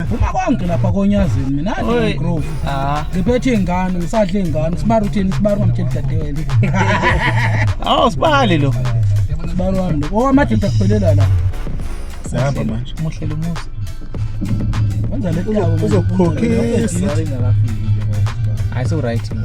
phuma konke lapha konyazini mina Oy. grove Ah. ngiphethe ingane ngisadle ingane sibaru uthini sibaru ngamtsheli dadewenu Awu sibali lo. sibaru wami lo owamadoda kuphelela la Sihamba manje. Muhle lo musa. wenza le Uzokukhokhisa. Hayi so right.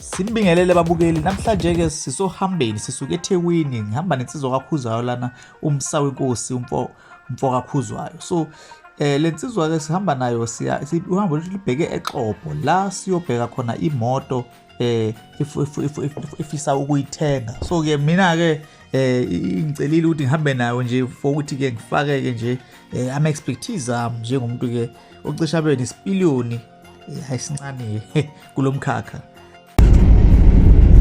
Sinibingelele babukeli namhlanje ke sisohambeni sisuke eThekwini ngihamba nensizwa kaKhuzayo lana umsa wenkosi umfo umfo kaKhuzayo so eh lensizwa ke sihamba nayo siya uhambo lwethu libheke eXopo la siyobheka khona imoto eh ifisa ukuyithenga so ke mina ke eh ngicelile ukuthi ngihambe nayo nje for ukuthi ke ngifake ke nje eh, ama expertise am njengomuntu ke ocisha bene isipiliyoni hayi sincane kulomkhakha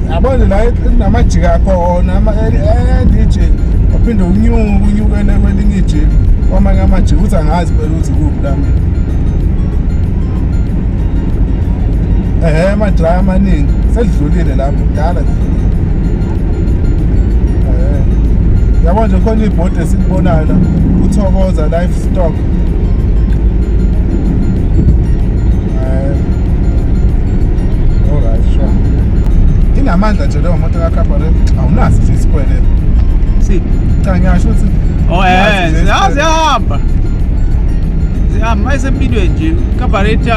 yabona la namajika khona ama eh, DJ uphinde unyuke unyukele kwelinye ijika kwamanye amajika uthi angazi phela ukuthi kuphi la mina ehe amadraya amaningi selidlulile lapho kudala lidlulile yabona nje khona ibhodi esilibonayo la uthokoza life stock inamandla nje leyo moto kacabaret awunaso nje isikwele si cha ngiyasho ukuthi oh eh ziyahamba zihamba mayisempilweni nje cabaret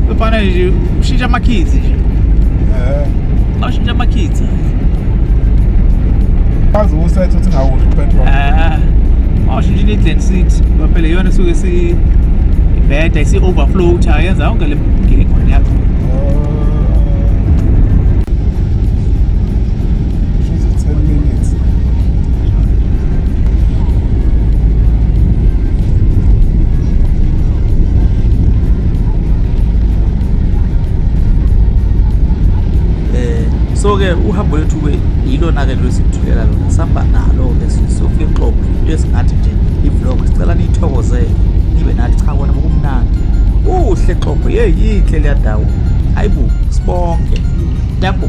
kufanele nje ushintsha amakhizi nje eh Awushintsha amakhithi. Bazi usethe uthi ngawudla upetrol. Ah. Awushintsha ni density. Phela yona esuke si ibheda isi overflow cha yenza yonke le ngili khona yakho. She's at 10 minutes. eh so ke uhambo lethu ke yilona ke lelo sithulela lona sihamba nalo ke sofika exobo into esingathi nje i-vlog sicela niyithokozele nibe nathi cha kona kumnandi uhle exobo yeyi yinhle leya ndawo hayi bo sibonke yabo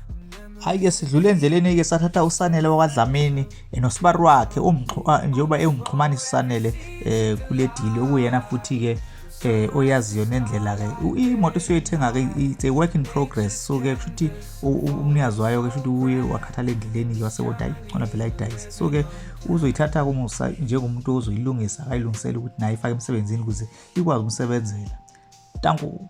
Hhayi-ke sidlule endleleni-ke sathatha uSanele wakwaDlamini eh, nosibari wakhe ah, njengoba ewumxhumanisi uSanele um kule dili okuyena futhi-ke eh oyaziyo nendlela ke imoto esiyoyithenga ke it's a work in progress so ke kushuthi umnikazi wayo ke kushuthi uye wakhathala endleleni ke wasebona hayi khona phela idayise so ke uzoyithatha kumusa njengomuntu ozoyilungisa akayilungisela ukuthi naye ifake emsebenzini ukuze ikwazi umsebenzela tanku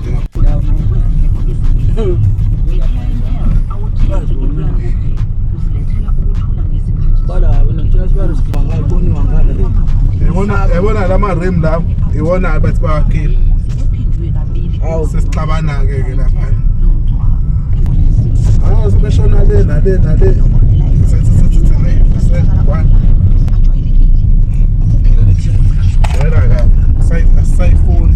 yabona la marem lawo iwona abathi bawakhile sesixabana-ke ke lapha hawu sebeshona le nale nale sayifuni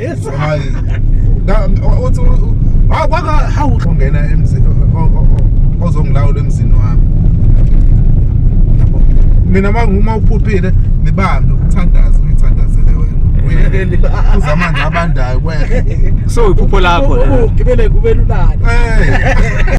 Yes. Hayi. Na uthi wakwaka hawu ungena emzini ozongilawula emzini wami. Yabo. Mina manguma uphuphile nibambe ukuthandaza uyithandazele wena. Uyekeli uza amanzi abandayo kwehle. So iphupho lakho. Ugibele kubelulana. Eh.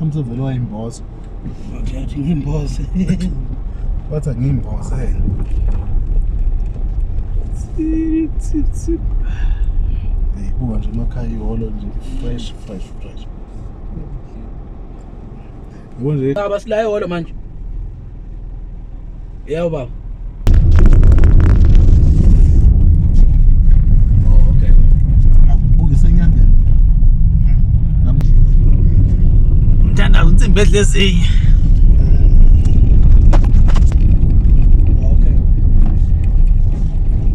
mhlawumbe vele wayimboza wathi ngimboze wathi angiyimboze eyibuka nje emakhaya iholo nje fresh fresh fresh Ukunje. Baba sila eholo manje. Yebo baba. Mthandazo insimbi edle ezinye.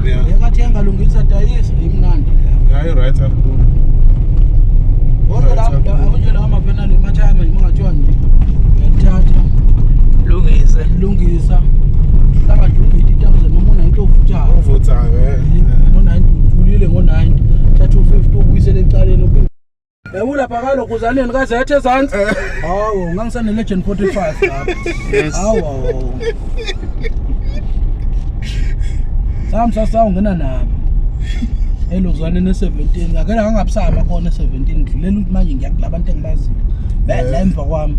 Yeah. Yekathi yangalungisa dayisa imnandi leyo. Hayi right up. Kodwa la akunje la ama penalty mathaya manje mungathiwa nje. Ngiyathatha. Lungise. Lungisa. Hlaka nje uvithi itakuze noma unayinto ovuthayo. Ovuthayo eh. Ngo 90 uthulile ngo 90. Thatha u 50 ubuyisele ecaleni Ewula phakalo kuzaneni kaze yethe ezantsi. Hawu, ngangisane legend 45 lapha. Yes. Hawu. hawu. Sam sasa ungena nami. Elozwane ne 17. Akela ngangabusama khona 17 ngidlulela ukuthi manje ngiyakulaba abantu engibaziyo. Bese emva kwami.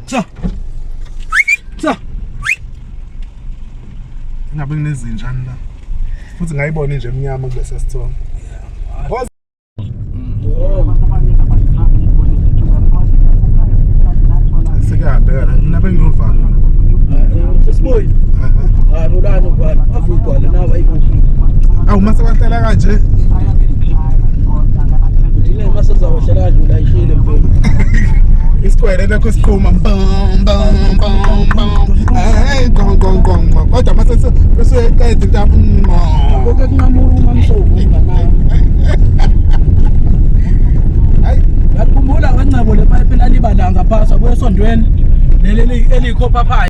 Cha. Cha. Ngabe nginezinjani la? Futhi ngayibona nje emnyama kulesa sithombe. Sekuyabheka, mina benginovalo. Sisibuyi. Hayi, bulani ubani. Avuyi kwale nawe ayikho. Awu mase bahlala kanje. Ile mase zawashela kadlula ishile mfowethu. isikwele lokho siqhuma bam bam bam bam hey gong gong gong gong. kodwa mase seqeda into mm, oh. Konke kunqamula uma msoku nganayo. Hayi, Ngakhumbula kancebo le pipe lalibalanga phasa kwesondweni leli elikhopha phansi.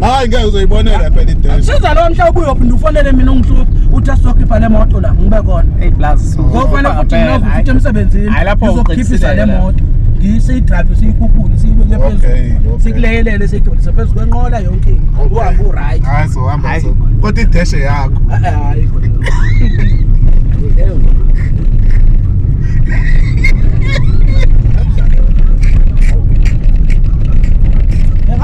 hayi ngeke uzoyibonela phela idela siza lo mhla ubuye uphinde ufonele mina ungihluphe uthi asizokhipha le moto la ngibe kona hey plus ngofanele futhi nginovu futhi emsebenzini ngizokhiphisa le moto siyidrave siyikhuphule siyibeke phezulu sikuleyelele siyidonise phezu kwenqola yonke into uhambe uright kodwa ideshe yakho hayi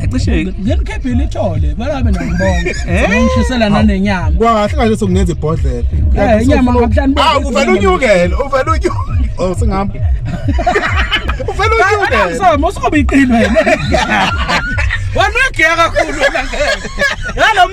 Yacishe ngenikhephile ithole balabe nabonke. Ngishisela nanenyama. Kwahle kahle sokungenza ibhodlela. Eh inyama ngabuhlani. Ah uvela unyukele, uvela unyukele. Oh singami. Uvela unyukele. Awusoma usobe iqini wena. Wena uyagiya kakhulu wena ngeke. Yalo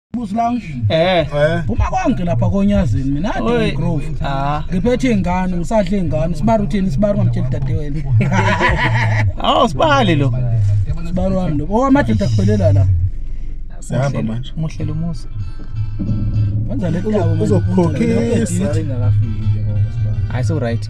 Busi lounge. Eh. Eh. Uma konke lapha konyazini mina Oi. ade grove. Ah. Ngiphethe ingane, ngisadle ingane, sibaru thini sibaru ngamtshela dade wena. Awu sibali lo. Sibaru wami lo. Oh amadoda kuphelela la. Sihamba manje. Muhle lo musa. Wenza le tawo. Uzokukhokhisa. Hayi so right.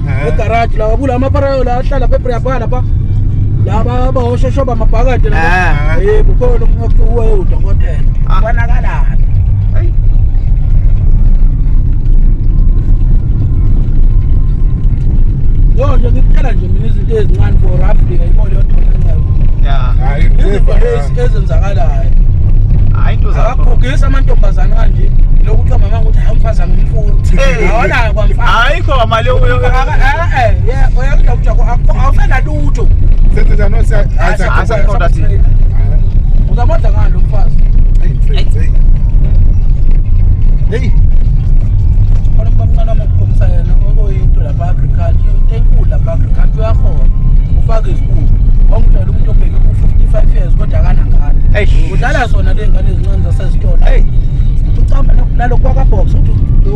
egarage lawa kula maparayo la ahlala pepriyapala pa laba bawoshoshoba amabhakade laba eh bukhona umuntu uwe udokotela bonakala Yo nje ngikuphela nje mina izinto ezincane for roughly ngayibona yodwa ngayo. Yeah. Hayi izinto ezenzakalayo. Hayi into zakho. Akagugisa amantombazana kanje. Lokuthiwa mama ukuthi hayi umfazi angimfuni. Awona ayikho mali awusenalutho uzamodla ngani lo mfazi heyi khona umkamncane wamokukhombisa yena okuyinto lapha agriculture into enkulu lapha agriculture uyakhona ufake izibuko wangidala umuntu obheke ku-55 years kodwa akanangane udlala zona le ngane ezincane zasezitolo ucamba nalokhu kwakabox uthi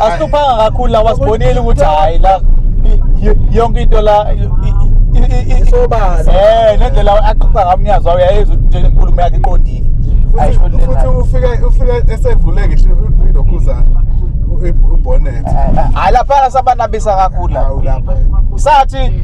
asihluphanga kakhulu la wasibonile ukuthi hayi la y- yonke into la i- i- i- i- Isobala. eh nendlela axoxa ngayo umnyazi wawo yayezwa ukuthi nje inkulumo yakhe iqondile Ayisho futhi into futhi enayo. ufike ufike esevule ngisho ilokhuzana ubhonet hayi lapha sabanabisa kakhulu la. awu lapha sathi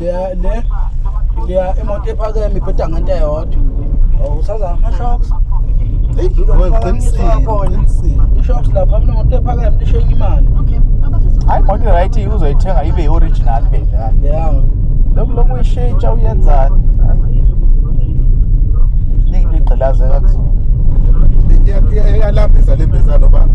le le le imoto ephakeme ibheda ngento eyodwa awusaza ama shocks Hey, i-shocks lapha mina moto ephakeme lishenye imali hayi moto right uzoyithenga ibe i-original be yeah lokhu lokhu uyishintsha uyenzani ningi ligqilazeka kuzona iyalambisa lembizalo baba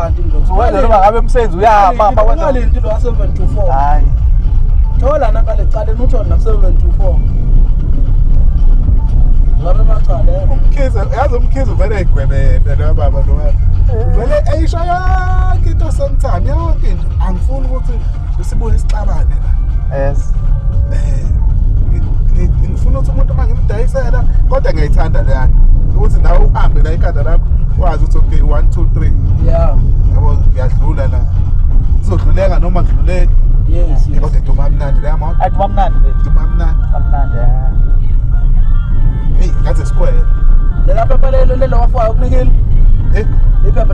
Wenza noma ngabe umsebenzi uyama ma wenza. Imali into 724. Hayi. Thola naka lecala nutho na 724. Ngabe macala. Eh? Umkhize yazi umkhize vele egwebele lo baba lo. Vele eyisho yonke into sometime yonke into angifuni ukuthi Usibuye isixabane la. Yes. Eh ngifuna ukuthi umuntu uma ngimdayisela kodwa ngiyayithanda le yakhe ukuthi nawe uhambe la ikhanda lakho wazi ukuthi okay 1 2 3 yeah yabo ngiyadlula la ngizodluleka noma ngidluleke yes yes kodwa duma mnandi la mama athi bamnandi bethu duma mnandi bamnandi hey ngathi sikwele lelapha balelo lelo wafayo kunikile eh iphepha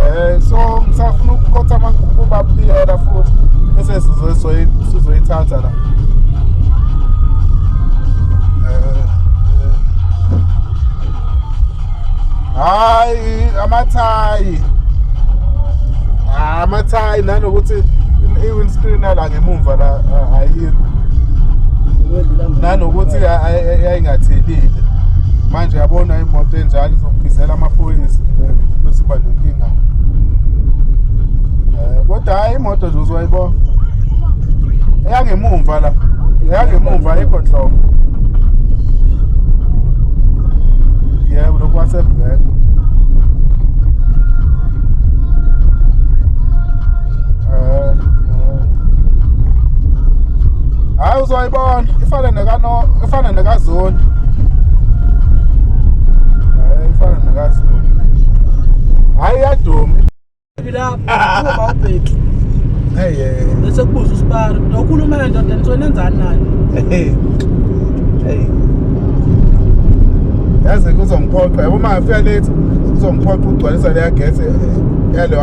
Eh so ngisafuna ukukhotha amagugu babiyela futhi bese sizoyi sizoyithatha la. Eh, eh. Hayi amathayi. Ah, amathayi nanokuthi i-windscreen yala ngemumva la a- ayikho nanokuthi ya- ay- ay- yayingathelile manje yabona imoto enjalo izokubizela amaphoyisa eh, bese uba nenkinga Eh, kodwa hhayi imoto nje uzoyibona eyangemumva la eyangemumva ayikho nhlobo yebo lokhu wasebhela Eh, eh. hayi uzoyibona ifane nekano ifane nekazoni hayi eh, ifane nekazoni hayi iyaduma lapho uma ubheki hey bese kubuza usibara nokhuluma kanjani then so nenzani nayo hey hey yazi kuzongiphoqa yabo uma ngifika late kuzongiphoqa ukugcwalisa leya gate eh, yaleyo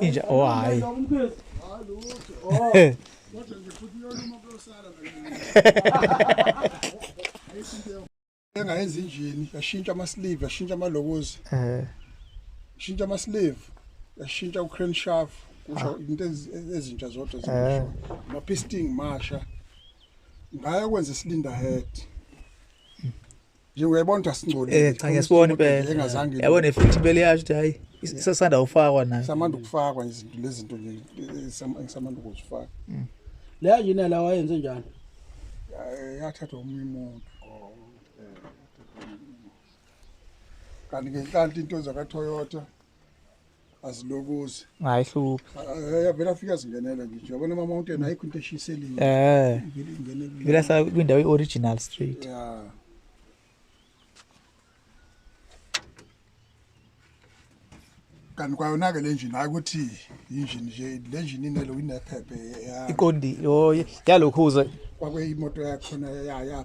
inja oh hayi engayenza injini yashintsha ama-sleeve yashintsha amalokozi eh shintsha ama-sleeve yashintsha u-crane shaft kusho ah. into ezintsha zodwa eh. ama-pisting masha ngaya kwenza isilinda head nje uyayibona ukuthi asingcolile eh cha ngesibona impela engazange yabona efithi impela yasho ukuthi hayi isasanda ufakwa nayo samanda ukufakwa izinto lezinto nje samanda ukuzifaka mm. leya yini la wayenze njani yathathwa omunye umuntu oh, eh, kanti ngenhlanhla into zakaToyota azilokozi hayi hluphi yavela afika zingenela nje yabona ama mountain ayikho into eshiseliwe eh vela sa kwindawo ioriginal street yeah kanti kwayona ke le njini hayi ukuthi yinjini nje le njini inelo inephephe iqondile yalokhuza kwakuyimoto yakho na ya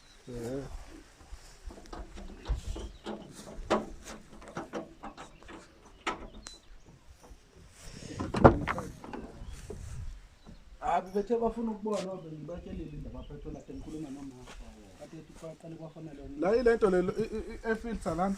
Abi bethe bafuna ukubona obe ngibatshelile indaba aphethola kade ngikhuluma nomama. Kade ethi kwaqale kwafanele umuntu. La ilento lelo i- i- i- efilter lana.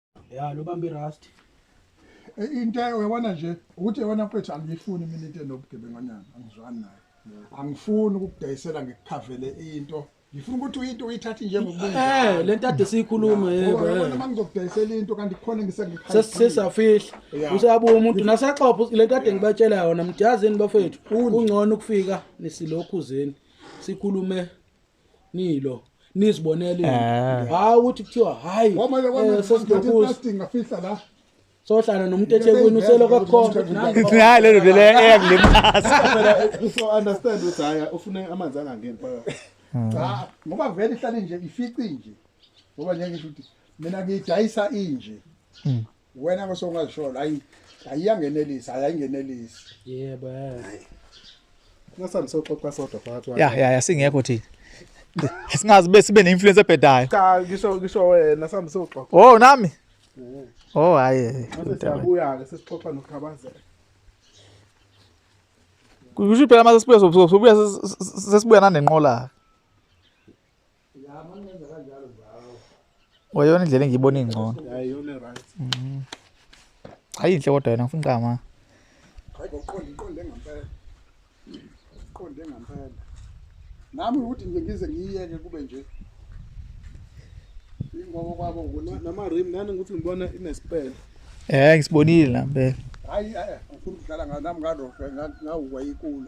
ya lo bambi rust E, into uyabona nje ukuthi yabona mfethu angiyifuni mina into enobugebenganyana angizwani nayo angifuni ukukudayisela ngikukhavele into ngifuna ukuthi uyinto uyithathe njengokubunjalo eh lento ade siyikhuluma yebo ngoba yabona eh. uma ngizokudayisela into kanti khona ngisengikhala sesisafihla Yeah. usabuya umuntu nasaxopha lento ade ngibatshela yona mjazini bafethu Undi. kungcono ukufika nesilokhuzeni sikhulume nilo nizibonele Eh. hayi ukuthi kuthiwa hayi Kwamanje kwamanje eh, sesidokuza plastic ngafihla la. sohlala nomuntu ethekwini useloku akhona Nayi lelo vele eyangilimasa. Phela so understand ukuthi haya ufune amanzi angangeni phakathi. Cha, ngoba vele ihlale nje ifici nje. Ngoba njengisho ukuthi mina ngidayisa inje. wena ngase ungazisholo hayi ayiyangenelisa hayi ayingenelisi yebo ngasandisoxoxa sodwa phakathi ya ya ya singekho thina singazi bese sibe neinfluence ebhedayo cha ngisho ngisho wena sambe soxoxa oh nami oh hayi siyabuya ke sesixoxa nokhabazela kusho phela mase sibuya sobuya sesibuya nanenqola wayona indlela engiyibona ingcono mm. hayi inhle kodwa yona ngifuna iqama hayi ngoqonde iqonde ngempela iqonde ngempela nami ukuthi nje ngize ngiyiyeke kube nje ingoba kwabo nama rim nani ukuthi ngibona inespele eh ngisibonile la mpela hayi eh, ngifuna ukudlala nami ngadoshe ngawukwa ikulu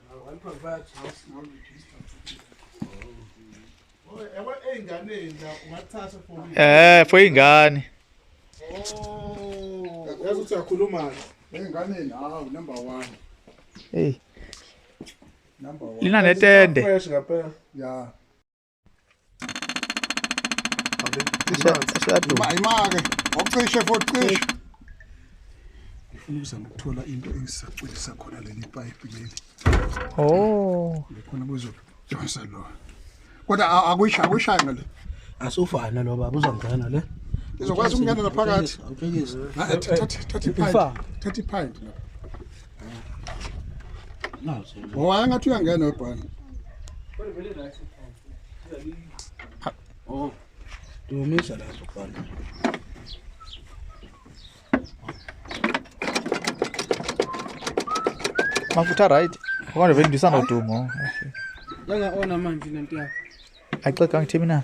Eh, foi engane. Oh, yazi ukuthi uyakhuluma enganeni hawu number 1. Hey. Number 1. Lina netende. Fresh ngapha. Yeah. imake ocishe futhi cishe ngifuna ukuzama ukuthola into engisacwilisa khona leli pipe leli oh lekhona kuzodonsa lo kodwa akuyishayi akuyishayi ngale asufana lo baba uzongena le izokwazi ukungena naphakathi thatha iphayinti lapha Ngoba ngathi uyangena webhani. Oh. Dumisa la sokubhana. Mafutha right. Kodwa vele ndisana udumo. Yanga ona manje lento yakho. Ayiqedwa ngithimina.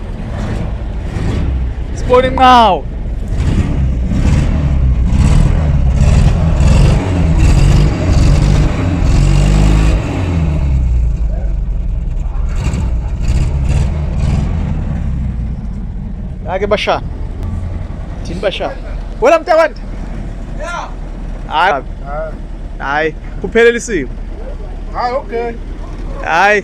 sibona inqawo Ake basha. Thini basha. Wena mntakwanda? Yeah. Hayi. Hayi, kuphelele isimo. Hayi, okay. Hayi.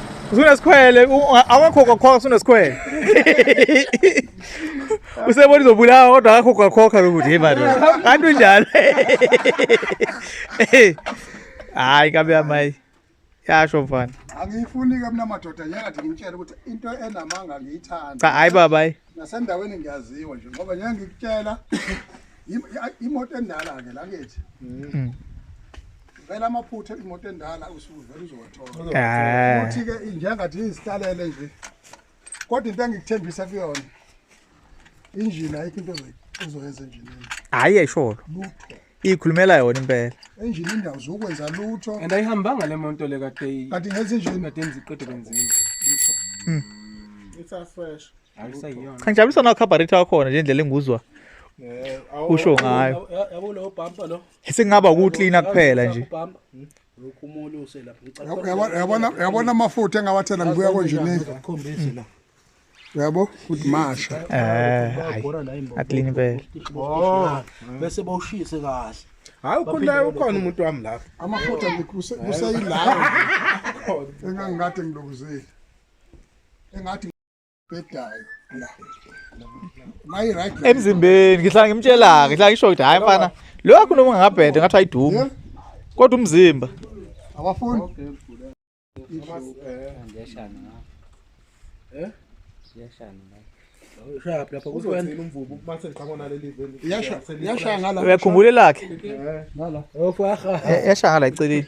Usunesikhwele, awakho kwakhokha usunesikhwele. Usebona izobulawa kodwa akakho kwakhokha lokuthi hey manje. Kanti unjalo. Hayi kabe yamayi. Yasho mfana. Angiyifuni ke mina madoda njengathi ngimtshela ukuthi into enamanga ngiyithanda. Cha hayi baba hayi. Nasendaweni ngiyaziwa nje ngoba njengoba ngikutshela imoto endala ke la kithi. Mm. vele amaphutha imoto endala usuvele uzowathola Eh. futhi ke njengathi izihlalele nje kodwa into engikuthembisa kuyona injini ayikho into ozoyi- ozoyenza enjinini Hayi esholo. lutho Ikhulumela yona impela. enjini indawo zokwenza lutho and ayihambanga le monto le kade kanti ngenza injini kade ngiziqede kwenziwe lutho It's a fresh. ayisayiyona Cha ngijabulisa na carburetor wakhona nje indlela enguzwa. Eh, awu- Usho ngayo. Yabo lo bumper lo. Singaba ukuklina kuphela nje. Lokhu umuntu uselapha ngicela. Yabona yabona yabona amafutha engawathela ngibuya konje nini. Ngikhombise la. Yabo futhi masha. Eh. Aklini impela. Oh. Bese bawushise kahle. Hayi ukhona ukhona umuntu wami lapha. Amafutha ngikuseyilapha. Engangikade ngilokuzile. Engathi bedayo la mayi right la emzimbeni ngihlala ngimtshela ke ngihlala ngisho ukuthi hayi mfana lo yakho noma ngabhede ngathi ayiduma Yeah. kodwa umzimba abafuni uzothini umvubu uma sengiqhamuka naleli veni yasha yasha ngala uyakhumbula lakhe ngala yashaya la eceleni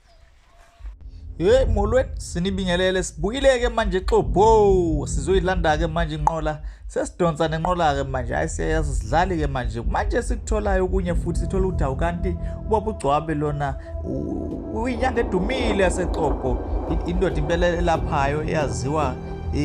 Hey molweni sinibingelele sibuyileke manje xobo sizoyilanda ke manje inqola sesidonsa nenqola ke manje hayi siyayazi sidlali ke manje manje sikutholayo kunye futhi sithola ukuthi awukanti ubaba ugcwabe lona uyinyanga edumile yasexobo indoda impela elaphayo eyaziwa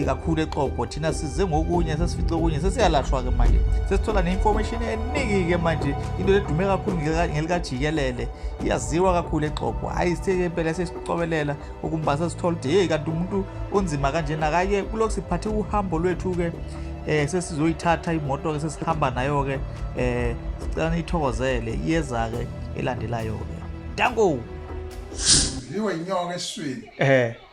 kakhulu exobo thina size ngokunye sesifice okunye sesiyalashwa ke manje sesithola ne-information eningi ke manje into edume kakhulu ngelikajikelele iyaziwa kakhulu exobo hhayi sike impela sesicobelela ukumba sesithola ukuthi yeyi kanti umuntu unzima kanjena kake kulokhu siphathe uhambo lwethu-ke eh sesizoyithatha imoto ke sesihamba nayo ke eh sicela niyithokozele iyeza ke elandelayo ke dango liwe inyoka eswini eh